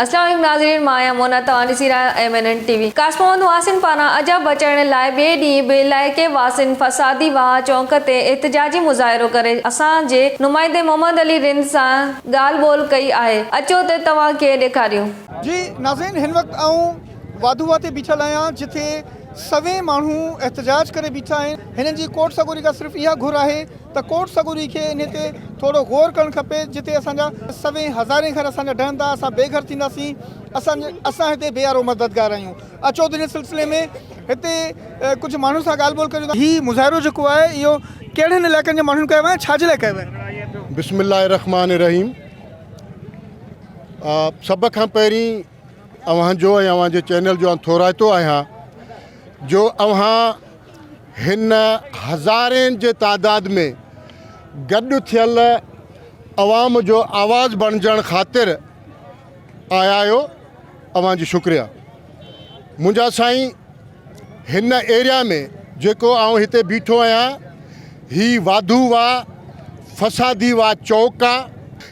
السلام ناظرين مان آهيان مونا توهان ڏسي رهيا آهيو M N N T V ڪاسٽ محمد محسن پاران عجب بچائڻ لاء ٻئي ڏينهن به علائقي واسين فسادي واهه چونڪ تي احتجاجي مظاهرو ڪري اسان جي نمائندي محمد علي رند سان ڳالهه ٻولهه ڪئي آهي اچو ته توهان کي ڏيکاريون. جي ناظرين هن وقت آئون واڌوواهه تي بيٺل آهيان جتي سوين ماڻهو احتجاج ڪري بيٺا آهن هنن جي ڪوٽ سڳوري کان صرف اها گهر آهي ته ڪوٽ سڳوري کي انهي تي ٿورو غور ڪرڻ کپي جتي اسان جا سوين هزارين گهر اسان جا ڊهندا اسان بي گهر ٿينداسين اسان اسان هتي بي آرو مددگار آهيون اچو ته ان سلسلي ۾ هتي ڪجهه ماڻهن سان ڳالهه ٻولهه ڪريون ٿا هي مظاهرو جيڪو آهي اهو ڪهڙن علائقن جي ماڻهن ڪيو آهي ۽ ڇا جي لاء ڪيو آهي بسم الله الرحمٰن الرحيم سڀ کان پهرين اوهان جو ۽ اوهان جي چينل جو آن ٿورائتو آهيان جو اوهان هن هزارين جي تعداد ۾ گڏ ٿيل عوام جو آواز بڻجڻ خاطر آيا آهيو اوهان جي شڪريا منهنجا سائين هن ايريا ۾ جيڪو آئون هتي بيٺو آهيان هي واڌو وا فسادي وا چوڪ آ.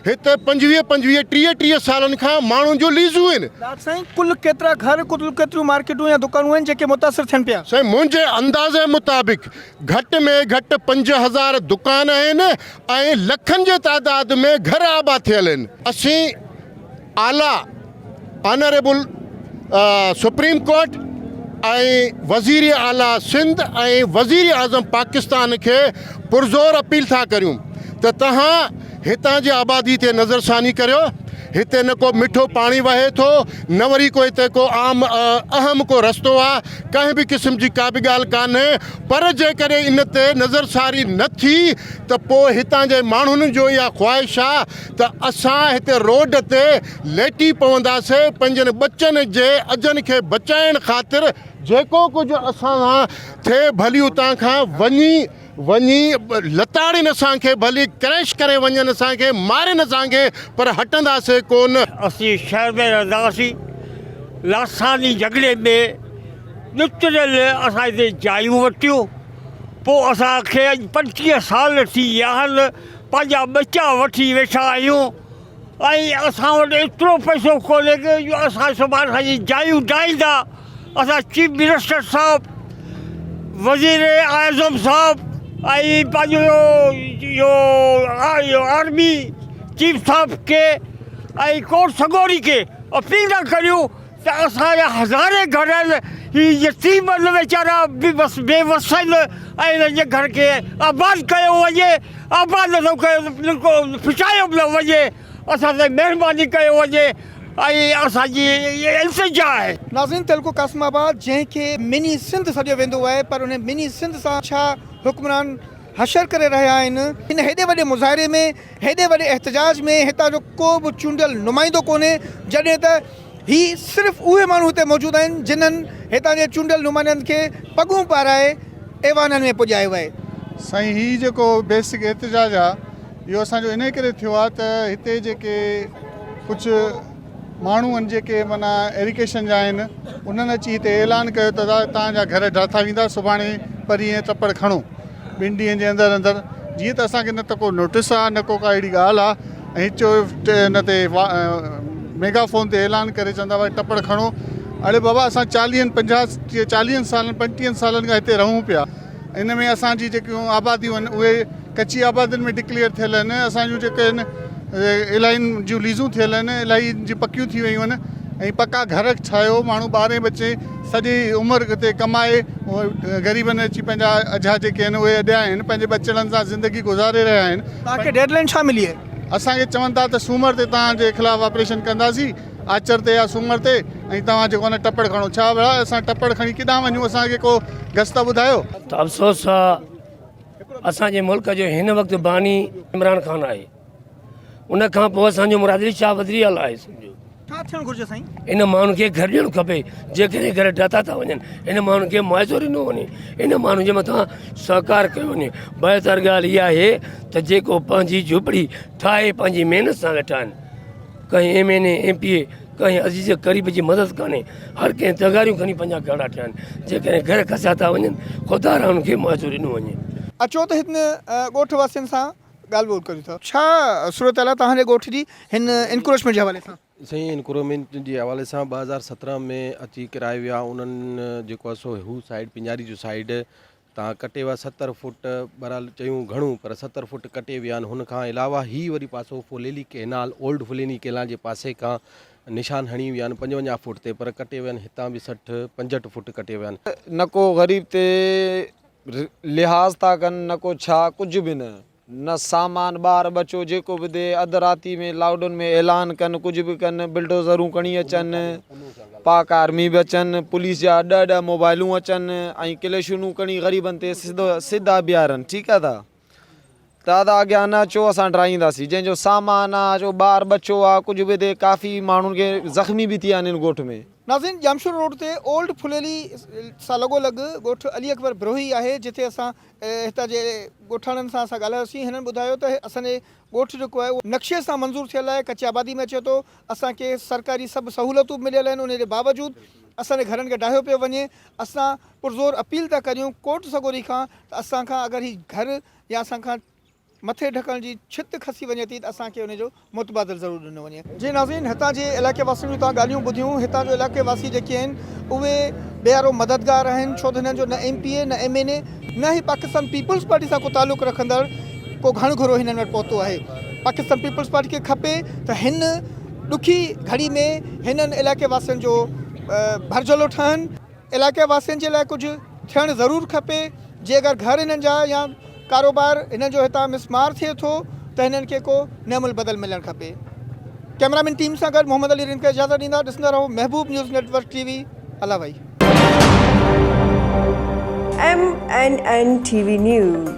هتي پنجويهه پنجويهه ٽيهه ٽيهه سالن کان ماڻهن جون ليزون هين. ڊاڪٽر سائين ڪل ڪيترا گهر ڪل ڪيتريون مارڪيٽون يا دڪانون آهن جيڪي متاثر ٿين پيا؟ سائين منهنجي اندازي مطابق گهٽ ۾ گهٽ پنج هزار دڪان آهن ۽ لکن جي تعداد ۾ گهر آباد ٿيل هين. اسين اعليٰ آنريبل سپريم ڪورٽ ۽ وزير اعليٰ سنڌ ۽ وزير اعظم پاڪستان کي پرزور اپيل ٿا ڪريون ته توهان هتان جي آبادي تي نظرثاني ڪريو هتي نه ڪو مٺو پاڻي وهي ٿو نه وري ڪو هتي ڪو عام اهم ڪو رستو آ ڪنهن به قسم جي ڪابه ڳالهه ڪانهي پر جيڪڏهن ان تي نظرثاري نه ٿي ته پوء هتان جي ماڻهن جو اها خواهش آ ته اسان هتي روڊ تي ليٽي پونداسين، پنهنجن ٻچن جي اجهن کي بچائڻ خاطر جيڪو ڪجهه اسان سان ٿئي ڀلي اتان کان وڃي وڃي لتاڙين اسان کي، ڀلي ڪريش ڪري وڃن اسان کي، مارين اسان کي پر هٽنداسين ڪونه. اسين شهر ۾ رهندا هئاسين، لاثاني جهڳڙي ۾ ڏتڙيل اسان هتي جايون ورتيون، پوء اسان کي اڄ پنجٽيهه سال ٿي ويا آهن، پنهنجا ٻچا وٺي ويٺا آهيون ۽ اسان وٽ ايترو پئسو ڪونهي ڪي جو اسان سڀان سان جي جايون ڊاهيندا اسان چيف منسٽر صاحب وزير اعظم صاحب ۽ پنهنجو اهو آرمي چيف صاحب کي ۽ ڪورٽ سڳوري کي اپيل ٿا ڪريون ته اسان جا هزارين گهر آهن هي يتيم آهن ويچارا به بس بي وس آهن ۽ هنن جي گهر کي آباد ڪيو وڃي آباد نٿو ڪيو ته انهن کي ڦٽايو پيو وڃي اسان تي مهرباني ڪيو وڃي ۽ اسان جي اهي التجا آهي. ناظرين تعلقو قاسم آباد جنهن کي مني سنڌ سڏيو ويندو آهي پر انهي مني سنڌ سان ڇا حڪمران حشر ڪري رهيا آهن ان هيڏي وڏي مظاهري ۾ هيڏي وڏي احتجاج ۾ هتان جو ڪو به چونڊيل نمائندو ڪونهي جڏهن ته هي صرف اهي ماڻهو هتي موجود آهن جنهن هتان جي چونڊيل نمائندن کي پڳون پارائي ايوانن ۾ پڄايو آهي. سائين هي جيڪو بيسڪ احتجاج آ اهو اسان جو انهي ڪري ٿيو آ ته هتي جيڪي ڪجهه ماڻهو آهن جيڪي معنيٰ ايريڪيشن جا آهن انهن اچي هتي اعلان ڪيو ته تان جا گهر ڊاٿا ويندا سڀاڻي پرينء تپڙ کڻو ٻن ڏينهن جي اندر اندر جيئن ته اسان کي نه ته ڪو نوٽس آهي نه ڪو ڪا اهڙي ڳالهه آهي ۽ چو ان تي ميگا فون تي اعلان ڪري چوندا وائي ٽپڙ کڻو اڙي بابا اسان چاليهن پنجاهه چاليهن سالن پنجٽيهن سالن کان هتي رهون پيا ان ۾ اسان جي جيڪيون آباديون آهن اهي ڪچي آبادين ۾ ڊڪليئر ٿيل آهن اسان جون جيڪي آهن الاهين جون ليزون ٿيل آهن الاهي جي پڪيون ٿي ويون آهن ۽ پڪا گهر ٺاهيو ماڻهو ٻارين بچي سڄي عمر اتي ڪمائي غريبن اچي پنهنجا اجها جيڪي آهن اهي اڏيا آهن پنهنجي ٻچڙن سان زندگي گذاري رهيا آهن اسان کي چون ٿا ته سومر تي توهان جي خلاف آپريشن ڪنداسين آچر تي يا سومر تي ۽ توهان جيڪو آهي نه ٽپڙ کڻو. ڇا ڀلا اسان ٽپڙ کڻي ڪيڏانهن وڃون اسان کي ڪو گس ته ٻڌايو. ته افسوس آ اسان جي ملڪ جو هن وقت باني عمران خان آهي ان کان پوء اسان جو مراد علي شاهه وزري اعليٰ آهي سمجهو. ڇا ٿيڻ گهرجي سائين؟ ان ماڻهن کي گهر ڏيڻ کپي جيڪڏهن گهر ڊاتا ٿا وڃن ان ماڻهن کي معاوضو ڏنو وڃي ان ماڻهن جي مٿان سهڪار ڪيو وڃي بهتر ڳالهه اها آهي ته جيڪو پنهنجي جهوپڙي ٺاهي پنهنجي محنت سان ويٺا آهن ڪنهن M N A M P A ڪنهن عزيز قريب جي مدد ڪانهي هر ڪنهن تغاريون کڻي پنهنجا گهرڙا ٺهيا آهن جيڪڏهن گهر کسيا ٿا وڃن خدا را انهن کي معاوضو ڏنو وڃي. اچو ته هن ڳوٺ واسين سان ڳالهه ٻولهه ڪريون ٿا. ڇا صورتحال آهي توهان جي ڳوٺ جي هن انڪروچمينٽ جي حوالي سان؟ سائين انڪرومينٽ جي حوالي سان ٻه هزار سترهن ۾ اچي ڪرايو ويو آهي انهن جيڪو آهي سو هو سائيڊ پنجاري جو سائيڊ تان ڪٽي ويا ستر فوٽ بھرحال چيون گھڻو پر ستر فوٽ ڪٽي ويا آھن ھن کان علاوه ھي وري پاسو Phuleli canal old Phuleli canal جي پاسي کان نشان ھڻي ويا آھن پنجونجاھ فوٽ تي پر ڪٽي ويا آھن ھتان به سٺ پنجھٽ فوٽ ڪٽي ويا آھن. نه ڪو غريب تي لحاظ ٿا ڪن نه ڪو ڇا ڪجهه به نه. نه سامان ٻار ٻچو جيڪو به ڏي اڌ راتي ۾ لاڊن ۾ اعلان ڪن ڪجهه به ڪن بلڊوزرون کڻي اچن پاڪ آرمي به اچن پوليس جا ڏهه ڏهه موبائلون اچن ۽ ڪليشونون کڻي غريبن تي سڌو سڌا بيهارن ٺيڪ آ دا دادا اڳيان نه اچو اسان ڊرائينداسي جنهن جو سامان آ جو ٻار ٻچو آ ڪجهه به دي ڪافي ماڻهن کي زخمي به ٿيا آهن ان ڳوٺ ۾. ناظرين ڄامشورو روڊ تي اولڊ ڦليلي سان لڳو لڳ ڳوٺ علي اڪبر بروهي آهي جتي اسان هتان جي ڳوٺاڻن سان اسان ڳالهايوسين هنن ٻڌايو ته اسان جي ڳوٺ جيڪو آهي اهو نقشي سان منظور ٿيل آهي ڪچي آبادي ۾ اچي ٿو اسان کي سرڪاري سڀ سهولتون به مليل آهن انهي جي باوجود اسان جي گهرن کي ڊاهيو پيو وڃي اسان پرزور اپيل ٿا ڪريون ڪورٽ سڳوري کان ته اسان کان اگر هي گهر يا اسان کان مٿي ڍڪڻ جي ڇت کسي وڃي ٿي ته اسان کي ان جو متبادل ضرور ڏنو وڃي. جي ناظرين هتان جي علائقي واسين جون توهان ڳالهيون ٻڌيون هتان جو علائقي واسي جيڪي آهن اهي بي آر او مددگار آهن ڇو ته هنن جو نه ايم پي اي نه ايم اين اي نه ئي پاڪستان پيپلز پارٽي سان ڪو تعلق رکندڙ ڪو گهڻ گهرو هنن وٽ پهتو آهي پاڪستان پيپلز پارٽي کي کپي ته هن ڏکي گهڙي ۾ هنن علائقي واسين جو ڀرجهولو ٺهن. علائقي واسين جي لاء ڪجهه ٿيڻ ضرور کپي جي اگر گهر هنن جا يا ڪاروبار هنن جو هتان مس مار ٿئي ٿو ته هنن کي ڪو نعم البدل ملڻ کپي ڪئميرا مين ٽيم سان گڏ محمد علي رند کي اجازت ڏيندا ڏسندا رهو Mehboob news network T V الاوائي M N N T V news